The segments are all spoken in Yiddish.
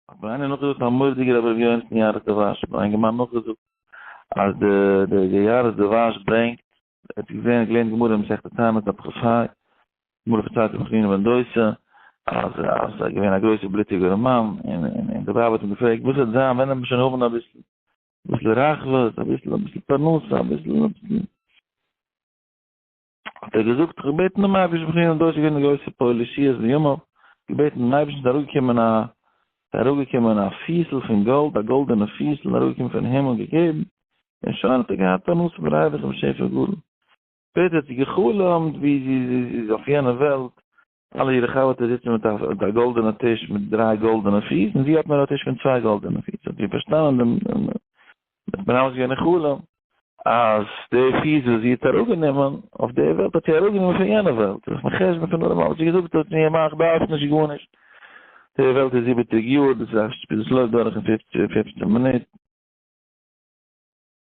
האט איינער נאכגעזאגט א מורדיגער אבער ווי אויך אין יארעס דעווייז האט איין געמיינט נאכגעזאגט אז די די יארעס דעווייז ברענגט ער האט געזען געלערנט גמרא אין מסכת תענית דף כז ה גמרא פון צייטן פון חנינא בן דוסא אז אז ער געווען א גרויסער בלוטיגער מאן און און די ווייב האט אים געפרעגט וואס וועט זיין ווען ער וועט שוין האבן אביסל אביסל רחבות אביסל אביסל פרנסה אביסל אביסל האט ער געזאגט, איך האב געבעטן דעם אייבערשטן, בכן און דאס איז געווען די גרויסע פוהלע שיעור בימיו, געבעטן דעם אייבערשטן, ס'איז אראפגעקומען א, ס'איז אראפגעקומען א פיסל פון גאלד, א גאלדענע פיסל איז אראפגעקומען פון הימל, געגעבן, און שוין האט ער געהאט פרנסה פון רייכע און שפע גאלד. שפעטער האט זי גע'חלומ'ט ווי זי איז אויף יענע וועלט, אלע אירע חברטע זיצן מיט א גאלדענע טיש מיט דריי גאלדענע פיס, און זי האט נאר א טיש פון צוויי גאלדענע פיס, האט זי פארשטאנען דעם מנהל'ס יענע חלום, אז די פיס וואס זי האט אראפגענומען אויף די וועלט האט זי אראפגענומען פון יענע וועלט, זיך מחשבן פון אלעמאל, וואס זי געזאגט האט מיר געמאכט, דארף נישט גארנישט, די וועלט איז זיבעציג יאר, דאס לויפט דורך אין פופצן מינוט.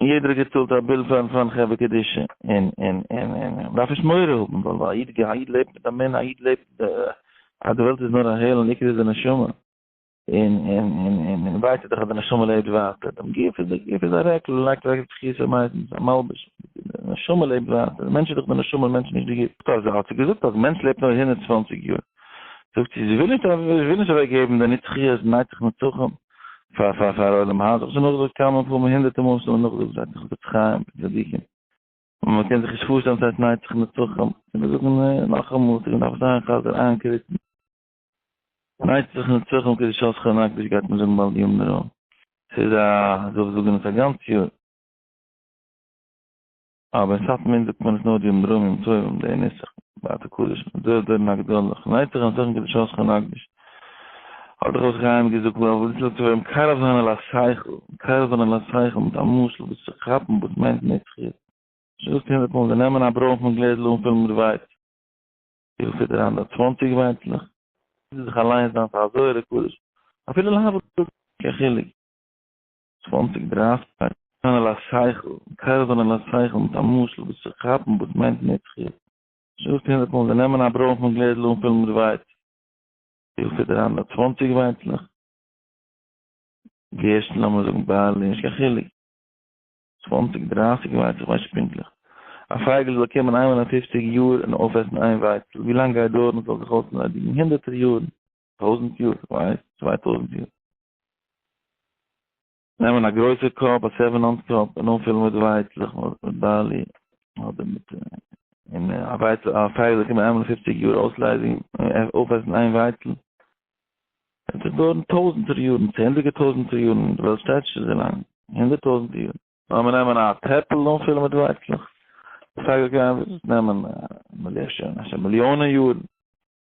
און יעדער האט געצאלט א ביל פאר פארן חברה קדישא, און און און און מען דארף נישט מורא האבן ווייל א איד א איד לעבט מיט אמונה א איד לעבט אז די וועלט איז נאר א העל און עיקר איז די נשמה, און און און און און ווייסט איר דאך אז די נשמה לעבט ווייטער, דעם גוף איז דער גוף איז א רעקל מען לייגט אוועק די תחיסה מייסטנס א מלבוש, די נשמה לעבט ווייטער, די מענטש איז דאך די נשמה און מענטש נישט די גוף. טא זי האט זיך געזאגט אז מענטש לעבט נאר הונדערט צוואַנציק יאר, זאגט זי זי וויל נישט וויל נישט אוועק געבן די נצחיות נייצח נצחים, פאר פאר פאר עולם האט איך שוין נאכגעזאגט כמה פעמים הונדערטע מאל שוין נאכגעזאגט זייט איך חפץ חיים צדיקים און מען קען זיך נישט פארשטעלן צו אזא נייטיקע נצחון קען מען זאגן נאכאמאל צו מען דארף זיין חזר איינקריצן נייטיקע נצחון קען נישט אויס חנק נישט גייט מען זאגן בל יאמרו ס'איז א זאל זאגן עס א גאנץ יאר. אבער אין סאטמאר זאגט מען עס נאר די אומדרומים טובים די נוסח בתי קודש מיט זויער דורן הגדול כ'נייט זיך אנטוישן כדי שאול שכן הקדוש האט דאך אויס חיים געזאגט ווייל וואס זאגט וועלן קרוב זיין אל השכל קרוב זיין אל השכל מיט א משל וואס צו כאפן וואס מיינט נצחיות שוין געזאגט הונדערט מאל זיי נעמען א ברוינפן גלעזל אנפילן מיט ווייץ וויפיל פיט אריין דארט צוואנציג ווייצלעך זיך אליינס זיין פאר א זויערע קדוש אפילו להבדיל קיין חילוק. צוואַנציק דרייסטקייט. טענה'ן על השכל, קעווען על השכל מיט א משל וואס צו כאפן וואס מיינט נצחיות. שוין געזאגט הונדערט מאל, זיי נעמען א ברוינפן גלעזל אנפילן מיט ווייץ, וויפיל פיט אריין דא? צוואַנציק ווייצלעך? גערשטן לאמיר זאגן בארלי, נישט קיין חילוק, צוואַנציק דרייסיג ווייצלעך ווייס נישט פונקטליך. א פייגל זאל קומען איינמאל אין פופציג יאר און אויפעסן איין ווייצל, ווי לאנג גייט דויערן עס זאל זיך אויסנאדיגן? הונדערטער יארן. טויזנט יאר, ווייסט? צוויי טויזנט יאר. נעמען א גרויסע קאפ, א סעווען אונס קאפ, און אנפילן מיט ווייצלעך, מיט בארלי, אדער מיט און א ווייצל, א פייגל קען מען איינמאל אין פופציג יאר אויסלייזן, אויפעסן איין ווייצל. עס וועט דויערן טויזנטער יארן, צענדליגער טויזנטער יארן, די וועלט שטייט נישט אזוי לאנג, הונדערט טויזנט יאר. לאמיר נעמען א טעפל און אנפילן מיט ווייצלעך, די פייגל קען נעמען, מ'זעט שוין, א מיליאנען יארן.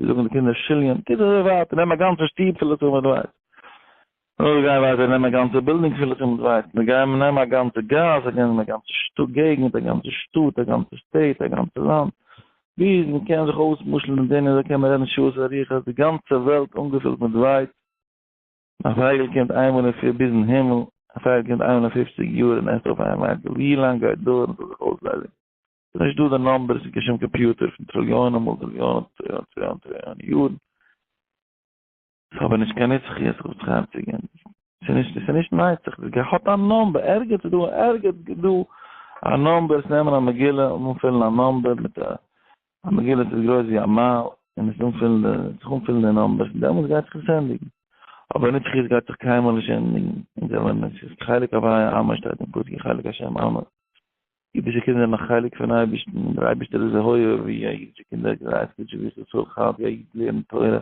זיי זאגן די קינדער שיליען, טוט אזוי ווייטער, נעם א גאנצע שטוב פול לצמד ווייץ. נו זיי גייען ווייטער, נעם א גאנצע בילדינג פול לצמד ווייץ, זיי גייען נעם א גאנצע גאס, זיי גייען נעם א גאנצע שטאט געגנט, א גאנצע שטאט, א גאנצע סטעיט, א גאנצע לאנד. ביז מען קען זיך אויסמשל'ן און דערין אזוי קען מען רעדן שעות ארוכות, די גאנצע וועלט אנגעפולט מיט ווייץ. א פייגל קומט איינמאל אין פיר ביזן הימל, א פייגל קומט איינמאל אין פופציג יאר און עסט אויף איין ווייץ, ווילאנג גייט דויערן ס'זאל זיך אויסליידיגן? ס'איז נישט דא די נומבערס אין קיין שום קאמפיוטער פון טריליאנען מאל טריליאנען טריליאנען טריליאנען טריליאנען יארן. ס'איז אבער נישט קיין נצחיות איך האב עס חייב צו גיין. ס'איז נישט ס'איז נישט נצח. ס'איז געהאט א נומבער. ערגעץ איז דא ערגעץ איז דא א נומבער. עס נעמען א מגילה און אנפילן א נומבער מיט א א מגילה ס'איז גרויס ווי א מייל און עס אנפילן די זיך אנפילן די נומבערס און דעמאלטס גייט זיך עס ענדיגן. אבער נצחיות גייט זיך קיינמאל נישט ענדיגן. אונז זעמיר נישט. ס'איז חלק הוויה עמא שטייט אין פסוק חלק השם עמא. אידישע קינדער האבן א חלק פון אייבערשטן, און דער אייבערשטער איז אויך אוהב ווי א אידישע קינדער גרייט גוט שבת צו צאל חייב ווי א איד לערנט תורה,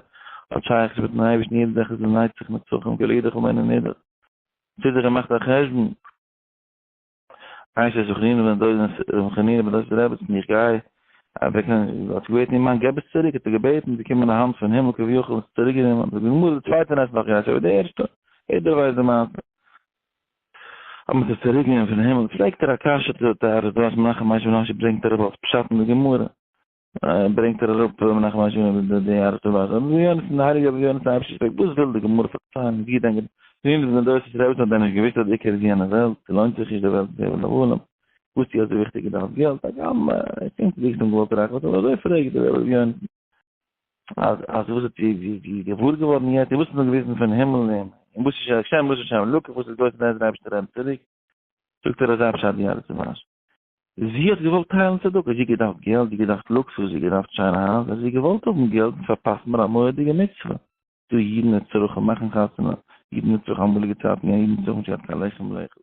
האט שייכות מיטן אייבערשטן יעדע זאך איז אין נצח נצחים כל אידך הוא מעין ענידך, ציט זיך און מאכט א חשבון, איין שש וחנינא בן דוד'ס רבי חנינא בן דוד'ס רעבעצן איך גיי אוועק האט געבעטן איר מאן געב עס צוריק האט ער געבעטן באקומען א האנט פון הימל כביכול עס צוריקגענומען האט ער געמאלדעט צווייטע נעכט נאך גערעדט אבער די ערשטע יעדער ווייסט די מעשה אז מ'זאל צוריק גיין פון הימל, פרעגט ער א קשיא צו די טענות וואס מנחם משה בן משה ברענגט אראפ אלס פשט אין די גמרא, ברענגט ער אראפ מנחם משה בן משה די ארט און ווייז, אז רבי יונה פון די הייליגע רבי יונה פון אפשיר פרעגט וואס וויל די גמרא פארציילן ווי דען געווען אין די דורות איז רעביסן האט דען נישט געוואוסט אז די עיקר איז יענע וועלט, ס'לוינט זיך נישט די וועלט איז הבל הבלים, וואס צו אזוי וויכטיג איז דאך געלט, הגם ער קען צו וויסן געלט רייכערט אבער אזוי פרעגט די רבי יונה. אז אז וואס איז די די די געוואר געווארן יעצט וואס איז נאר געוויזן פון הימל אים און וואס איז שוין השם וואס איז שוין לוקח וואס איז דאס נעז רייבסט ער אים צוריק זאגט ער אזא פשט די אלע צומאש זי האט געוואלט טיילן צדוק זי געדארפט געלט זי געדארפט לוקסוס זי געדארפט שיינע הייז אז זי געוואלט האבן געלט און פארפאסט מיר א מורא'דיגע מצוה דו אידן נצרכים מאכן חתונה אידן נצרכים אמאליגע צייטן יא אידן נצרכים שיין קיין לחם לאכול